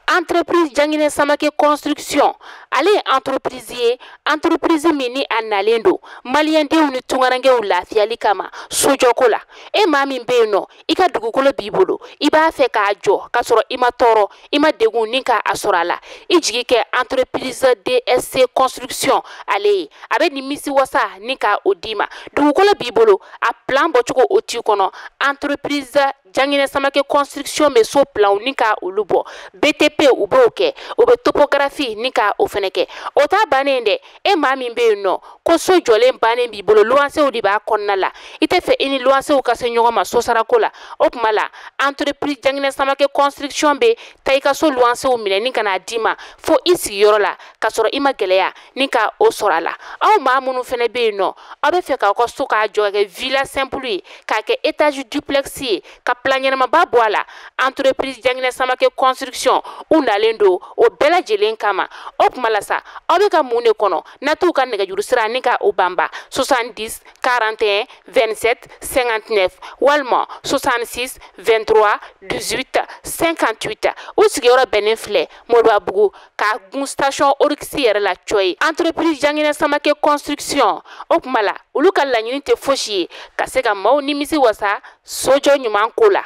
entreprise janginɛ samake construction ale ye entreprise ye entreprise min ni a nalen don maliyɛndenw ni tungarankew lafiyali kama sojɔko la e maa min bɛ yen nɔ i ka dugukolo b'i bolo i b'a fɛ k'a jɔ k'a sɔrɔ i ma tɔɔrɔ i ma degun ni ka a sɔrɔ a la i jigi kɛ entreprise dsc construction ale ye a bɛ nimisi wasa ni ka o d'i ma dugukolo b'i bolo a plan bɔcogo o t'i kɔnɔ entreprise Janginɛ Samake construction bɛ so planw ni ka olu bɔ, BTP u b'o kɛ, u bɛ topographie ni ka o fɛnɛ kɛ. O t'a bannen dɛ, e maa min bɛ yen nɔ ko so jɔlen bannen b'i bolo, luwansew de b'a kɔnɔna la, i tɛ fɛ i ni luwansew ka se ɲɔgɔn ma sosarako la, o tuma la entreprise Janginɛ Samake construction bɛ taa i ka so luwansew minɛ ni ka n'a d'i ma fo i sigiyɔrɔ la, ka sɔrɔ i ma gɛlɛya. ni ka o sɔrɔ a la aw maa minnu fɛnɛ bɛ yen nɔ aw bɛ fɛ k'aw ka so k'a jɔ k'a kɛ villa simple ye k'a kɛ étage duplex ye ka plan ɲɛnamaba bɔ a la entreprise janginɛ samake construction u nalen don o bɛɛ lajɛlen kama o tuma la sa aw bɛ ka mun de kɔnɔ na t'u ka nɛgɛjuru sira ni ka o banba 70 41 27 59 walima 66 23 18 58 u sigiyɔrɔ bɛnnen filɛ moribabugu ka gun station oryx yɛrɛ la cɔyi entreprise janginɛ samake construction o kuma la olu ka laɲini tɛ fosi ye ka se ka maaw nimisi wasa sojɔ ɲuman ko la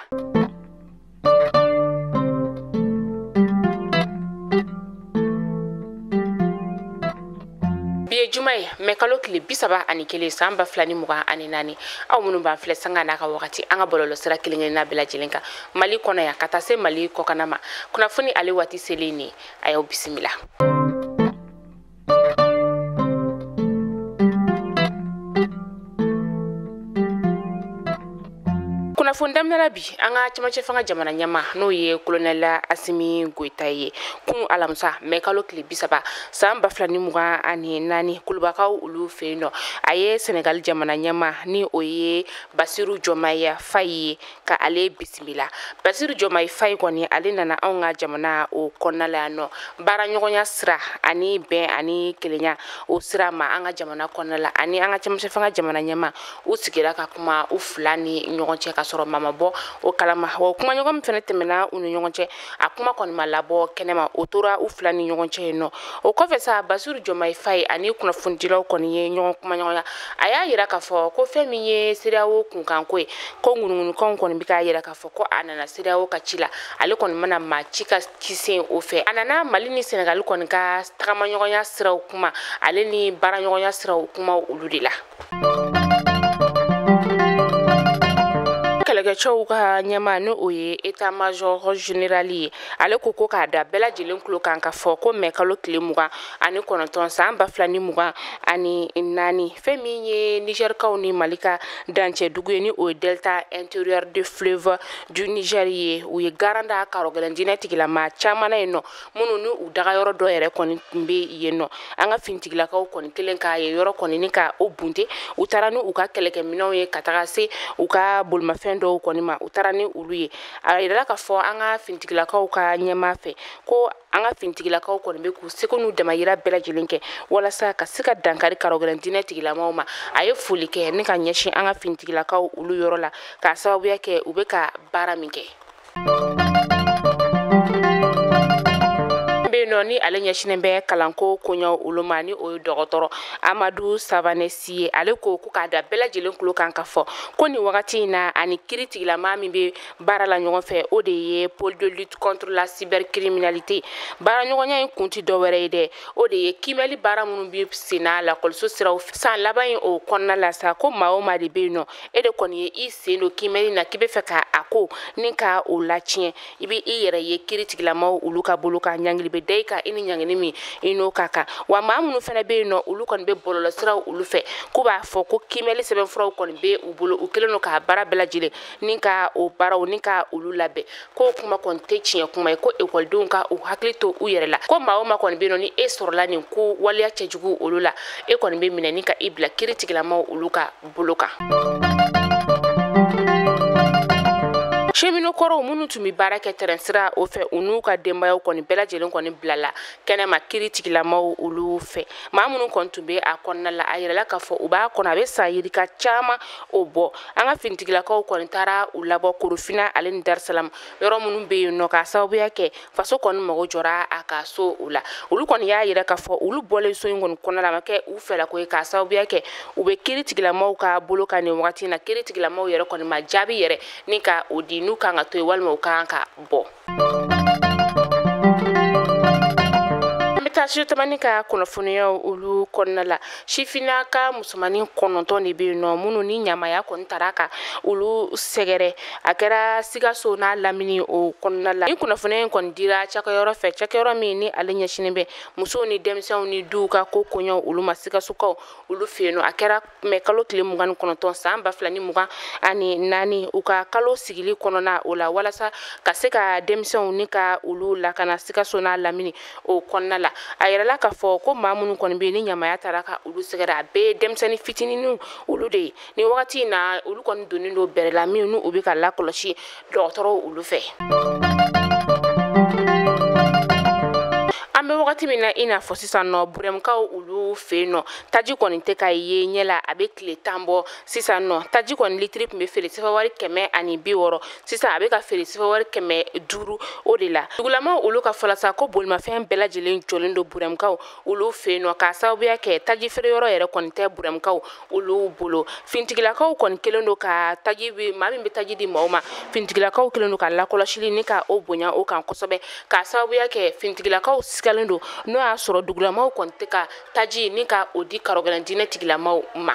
bi ye juma ye mɛ kalo tile bisaba ani kelen san ba fila ni mugan ani naani aw minnu b'an filɛ sanga n'a ka wagati an ka bɔlɔlɔ sira kelenkelenna bɛɛ lajɛlen kan mali kɔnɔ yan ka taa se mali kɔkana ma kunnafoni ale waati selen nin a y'aw bisimila kunnafoni daminɛla bi an ka cɛmancɛ fanga jamana ɲɛmaa n'o ye kolonɛla asimi goyita ye kun alamisa mɛ kalo tile bisaba san ba fila ni mugan ani naani kulubakaw olu fɛ yen nɔ a ye senegali jamana ɲɛmaa ni o ye basiru jɔmayi fayi ye ka ale bisimila basiru jɔmayi fayi kɔni ale nana anw ka jamana o kɔnɔna la yan nɔ baara ɲɔgɔnya sira ani bɛn ani kelenya o sira ma an ka jamana kɔnɔna la ani an ka cɛmancɛ fanga jamana ɲɛmaa u sigira ka kuma u fila ni ɲɔgɔn cɛ ka sɔrɔ maa ma bɔ o kalama wa kumaɲɔgɔn min fɛnɛ tɛmɛna u ni ɲɔgɔn cɛ a kuma kɔni ma labɔ kɛnɛma o tora u fila ni ɲɔgɔn cɛ yen nɔ o kɔfɛ sa basiru jɔmayi fayi ani kunnafonidilaw kɔni ye ɲɔgɔn kumaɲɔgɔnya a y'a yira k'a fɔ ko fɛn min ye sedeyawo kunkanko ye ko ŋunuŋunukanw kɔni bɛ k'a yira k'a fɔ ko a nana sedeyawo ka ci la ale kɔni ma na maa si ka ci sen o fɛ a nana mali ni senegali kɔni ka tagamaɲɔgɔnya siraw kuma ale ni baaraɲɔgɔnya siraw kuma olu de la kɛlɛkɛcɛw ka ɲɛmaa ni o ye état major général ye ale ko ko k'a da bɛɛ lajɛlen tulo kan k'a fɔ ko mɛ kalo tile mugan ani kɔnɔntɔn san ba fila ni mugan ani naani fɛn min ye nigɛrikaw ni mali ka dancɛ dugu ye ni o ye delta intérieur de fleuve du niger ye u ye garan da karogɛlɛn diinɛ tigilama caman na yen nɔ minnu ni u daga yɔrɔ dɔ yɛrɛ kɔni tun bɛ yen nɔ an ka finitigilakaw kɔni kɛlen ka yen yɔrɔ kɔni ni ka o bunte u taara ni u ka kɛlɛkɛminɛnw ye ka taga se u ka bolimafɛn dɔw kɔni ma u taara ni olu ye a yirala k'a fɔ an ka finitigilakaw ka ɲɛmaa fɛ ko an ka finitigilakaw kɔni bɛ k'u seko n'u damayira bɛɛ lajɛlen kɛ walasa ka se ka dankari karogɛlɛn diinɛ tigilamaw ma a ye foli kɛ ni ka ɲɛsin an ka finitigilakaw olu yɔrɔ la k'a sababuya kɛ u bɛ ka baara min kɛ nɔ ni ale ɲɛsinen bɛ kalanko koɲɛw olu ma ni o ye dɔgɔtɔrɔ amadu savane si ye ale ko ko k'a da bɛɛ lajɛlen tulo kan k'a fɔ ko nin wagati in na a ni kiri tigilama min bɛ baara la ɲɔgɔn fɛ o de ye pôle de lutte contre la cybercriminalité baaraɲɔgɔnya in kun tɛ dɔwɛrɛ ye dɛ o de ye kiimɛli baara minnu bɛ senna lakɔliso siraw fɛ san laban in o kɔnɔna la sa ko maa o maa de bɛ yen nɔ e de kɔni ye i sen don kimɛli na k'i be fɛ ka a ko ni ka o latiɲɛ i be i yɛrɛ ye kiri tigilamaw olu ka bolo kan ɲangili be da i kan i ni ɲangili min i n'o ka kan wa maa minnu fana be yen nɔ olu kɔni be bɔlɔlɔsiraw olu fɛ k'u b'a fɔ ko kimɛli sɛbɛnfuraw kɔni be u bolo u kɛlen don ka baara bɛɛ lajɛlen ni ka o baara ni ka olu labɛn k'o kuma kɔni tɛ tiɲɛ kuma ye ko ekɔlidenw ka u hakili to u yɛrɛ la ko maa o maa kɔni be yen nɔ ni e sɔrɔla nin ko waleya cɛjugu olu la e kɔni be minɛ ni ka i bila kiri tigilamaw olu ka bolo kan cheminot kɔrɔw minnu tun be baara kɛ tɛrɛn sira o fɛ u n'u ka denbayaw kɔni bɛɛ lajɛlen kɔni bilala kɛnɛma kiri tigilamaw olu fɛ maa minnu kɔni tun be a kɔnɔna la a yirala k'a fɔ u b'a kɔnɔ a be san yirika caaman o bɔ an ka finitigilakaw kɔni taara u labɔ korofina ale ni darisalamu yɔrɔ minnu be yen nɔ k'a sababuya kɛ faso kɔni mago jɔra a ka so o la olu kɔni y'a yira k'a fɔ olu bɔlen so in kɔni kɔnɔna la a ma kɛ u fɛlako ye k'a sababuya kɛ u bɛ kiri tigilamaw ka bolo kan nin wagati in na kiri tigilamaw yɛrɛ kɔni ma jaabi yɛrɛ ni ka o di n'u kan ka to yen walima u kan ka bɔ an bɛ studio tamani ka kunnafoniyaw olu kɔnɔna la sifinnaka musomannin kɔnɔntɔn de bɛ yen nɔ minnu ni ɲamaya kɔni taara ka olu sɛgɛrɛ a kɛra sikaso n'a lamini o kɔnɔna la ni kunnafoniya in kɔni dira cakɛyɔrɔ fɛ cakɛyɔrɔ min ni ale ɲɛsinen bɛ musow ni denmisɛnw ni duw ka ko koɲɛw olu ma sikasokaw olu fɛ yen nɔ a kɛra mɛ kalo tile mugan ni kɔnɔntɔn san ba fila ni mugan ani naani u ka kalo sigili kɔnɔna o la walasa ka se ka denmisɛnw ni ka olu lakana sikaso n'a lamini o kɔnɔna la a yirala k'a fɔ ko maa minnu kɔni bɛ ni ɲamaya taara ka olu sɛgɛrɛ a bɛɛ ye denmisɛnnin fitininiw olu de ye ni wagati in na olu kɔni donnen don bɛrɛ la min n'u bɛ ka lakɔlɔsi dɔgɔtɔrɔw olu fɛ an bɛ wagati min na i n'a fɔ sisan nɔ burɛmukaw olu fɛ yen nɔ taji kɔni tɛ ka ye ɲɛ la a bɛ tile tan bɔ sisan nɔ taji kɔni litiri tun bɛ feere sɛfɛwari kɛmɛ ani bi wɔɔrɔ sisan a bɛ ka feere sifawari kɛmɛ duuru o de la dugulamaw olu ka fɔ la sa ko bolimafɛn bɛɛ lajɛlen jɔlen don burɛmukaw olu fɛ yen nɔ k'a sababuya kɛ taji feere yɔrɔ yɛrɛ kɔni tɛ burɛmukaw olu bolo finitigilakaw kɔni kelen don ka taji bɛ maa min bɛ taji di maaw ma finitigilakaw kelen don ka lakɔlɔsili ni ka o bonya o kan kosɛbɛ k'a sababuya kɛ finitigilakaw sigalen don n'o y'a sɔrɔ dugulamaw kɔni tɛ ka taji ni ka o di karɔgɛlɛn diinɛ tigilamaw ma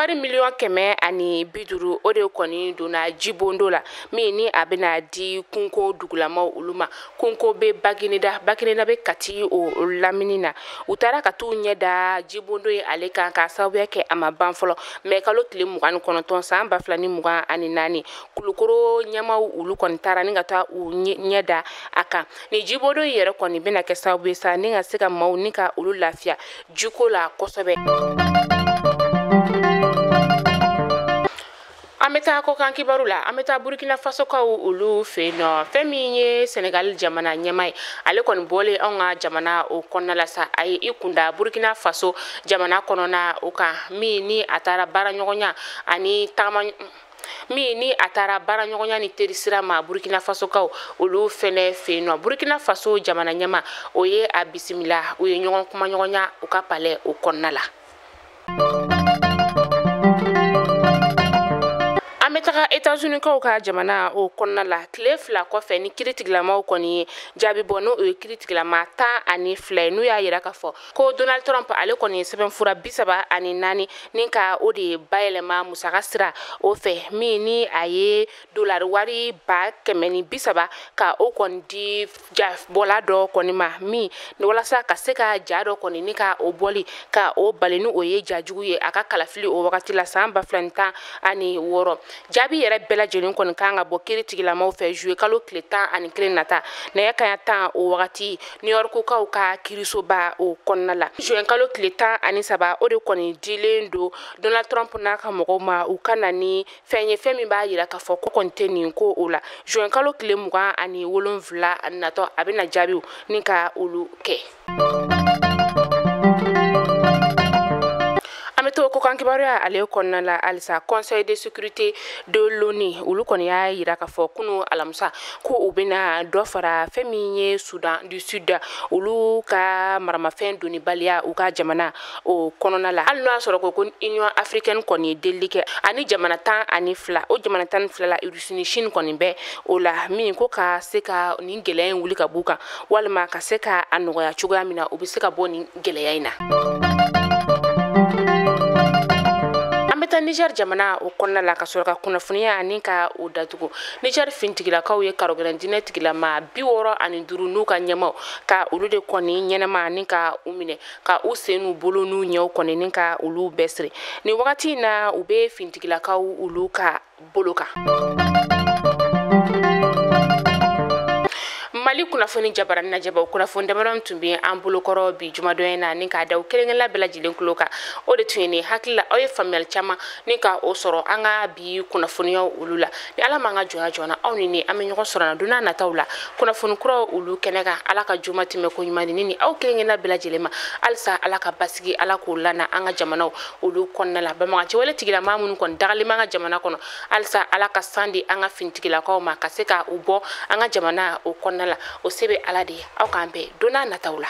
wari miliyɔn kɛmɛ ani bi duuru o de kɔni donna jibondo la min ni a bɛna di kunko dugulamaw olu ma kunko bɛ bagineda bagineda bɛ kati o lamini na u taara ka t'u ɲɛ da jibondo ye ale kan k'a sababuya kɛ a ma ban fɔlɔ mɛ kalo tile mugan ni kɔnɔntɔn san ba fila ni mugan ani naani kulukoro ɲɛmaaw olu kɔni taara ni ka taa u ɲɛ da a kan Ni jibondo in yɛrɛ kɔni bɛna kɛ sababu ye sa ni ka se ka maaw ni ka olu lafiya jiko la kosɛbɛ. An bɛ taa kɔkan kibaru la an bɛ taa burkina fasokaw olu fɛ yen nɔ fɛn min ye senegali jamana ɲɛmaa ye ale kɔni bɔlen anw ka jamana o kɔnɔna la sa a ye i kunda burkina faso jamana kɔnɔna o kan min ni a taara baaraɲɔgɔnya ani tagama min ni a taara baaraɲɔgɔnya ni terisira ma burkina fasokaw olu fɛnɛ fɛ yen nɔ burkina faso jamana ɲɛmaa o ye a bisimila u ye ɲɔgɔn kumaɲɔgɔnya u ka palɛ o kɔnɔna la an bɛ taga etazunikaw ka jamana o kɔnɔna la tile fila kɔfɛ ni kiri tigilamaw kɔni ye jaabi bɔ n'o ye kiri tigilama tan ani fila ye n'u y'a yira k'a fɔ ko donald trump ale kɔni ye sɛbɛnfura bi saba ani naani ni ka o de ye bayɛlɛma musaka sira o fɛ min ni a ye dolari wari ba kɛmɛ ni bi saba ka o kɔni di jabɔla dɔ kɔni ma min walasa ka se ka ja dɔ kɔni ni ka o bɔli ka o bali ni o ye ja jugu ye a ka kalafili o wagati la san ba fila ni tan ani wɔɔrɔ jaabi yɛrɛ bɛɛ lajɛlen kɔni kan ka bɔ kiri tigilamaw fɛ juwe kalo tile tan ani kelen nata nɛgɛ kanɲɛ tan o wagati niyɔrikukaw ka kirisoba o kɔnɔna la juwɛn kalo tile tan ani saba o de kɔni dilen don donald trump n'a ka mɔgɔw ma u ka na ni fɛn ye fɛn min b'a yira k'a fɔ k'o kɔni tɛ nin ko o la juwɛn kalo tile mugan ani wolonfila natɔ a bɛna jaabiw ni ka olu kɛ kibaruya ale kɔnɔna la halisa conseil de sécurité de l'ONU olu kɔni y'a yira k'a fɔ kunu alamisa ko u bɛna dɔ fara fɛn min ye Sudan du Sud olu ka maramafɛn donnibaliya u ka jamana o kɔnɔna la hali n'o y'a sɔrɔ ko ko union africaine kɔni ye delili kɛ ani jamana tan ani fila o jamana tan ni fila la Russie ni Chine kɔni bɛ o la min ko ka se ka nin gɛlɛya in wuli ka b'u kan walima ka se ka a nɔgɔya cogoya min na u bɛ se ka bɔ nin gɛlɛya in na. an bɛ taa niger jamana o kɔnɔna la ka sɔrɔ ka kunnafoniya ani ka o datugu niger finitigilakaw ye karogɛlɛn dinɛ tigilamaa bi wɔɔrɔ ani duru n'u ka ɲɛmaw ka olu de kɔni ɲɛnama ani ka u minɛ ka u sen n'u bolo n'u ɲɛw kɔni ni ka olu bɛɛ siri nin wagati in na u bɛ finitigilakaw olu ka bolo kan mali kunnafoni jabaranin lajɛbaw kunnafoni damadɔ min tun bɛ an bolokɔrɔ bi jumadonya na ni k'a da aw kelen kelenna bɛɛ lajɛlen kulo kan o de tun ye nin hakili la aw ye faamuyali caman ni ka o sɔrɔ an ka bi kunnafoniyaw olu la ni ala m'an ka jɔnya jɔna aw ni ne an bɛ ɲɔgɔn sɔrɔ na don na nataw la kunnafoni kuraw olu kɛnɛ kan ala ka juma tɛmɛ ko ɲuman di ne ni aw kelen kelenna bɛɛ lajɛlen ma halisa ala ka basigi ala k'o lana an ka jamanaw olu kɔnɔna la banbaganciwale tigilamaa minnu kɔni dagalen b'an ka jamana kɔnɔ halisa ala ka san di an ka finitigilakaw ma ka se ka u bɔ an ka jamana o kɔnɔna la o se bɛ ala de ye aw k'an bɛn don na nataw la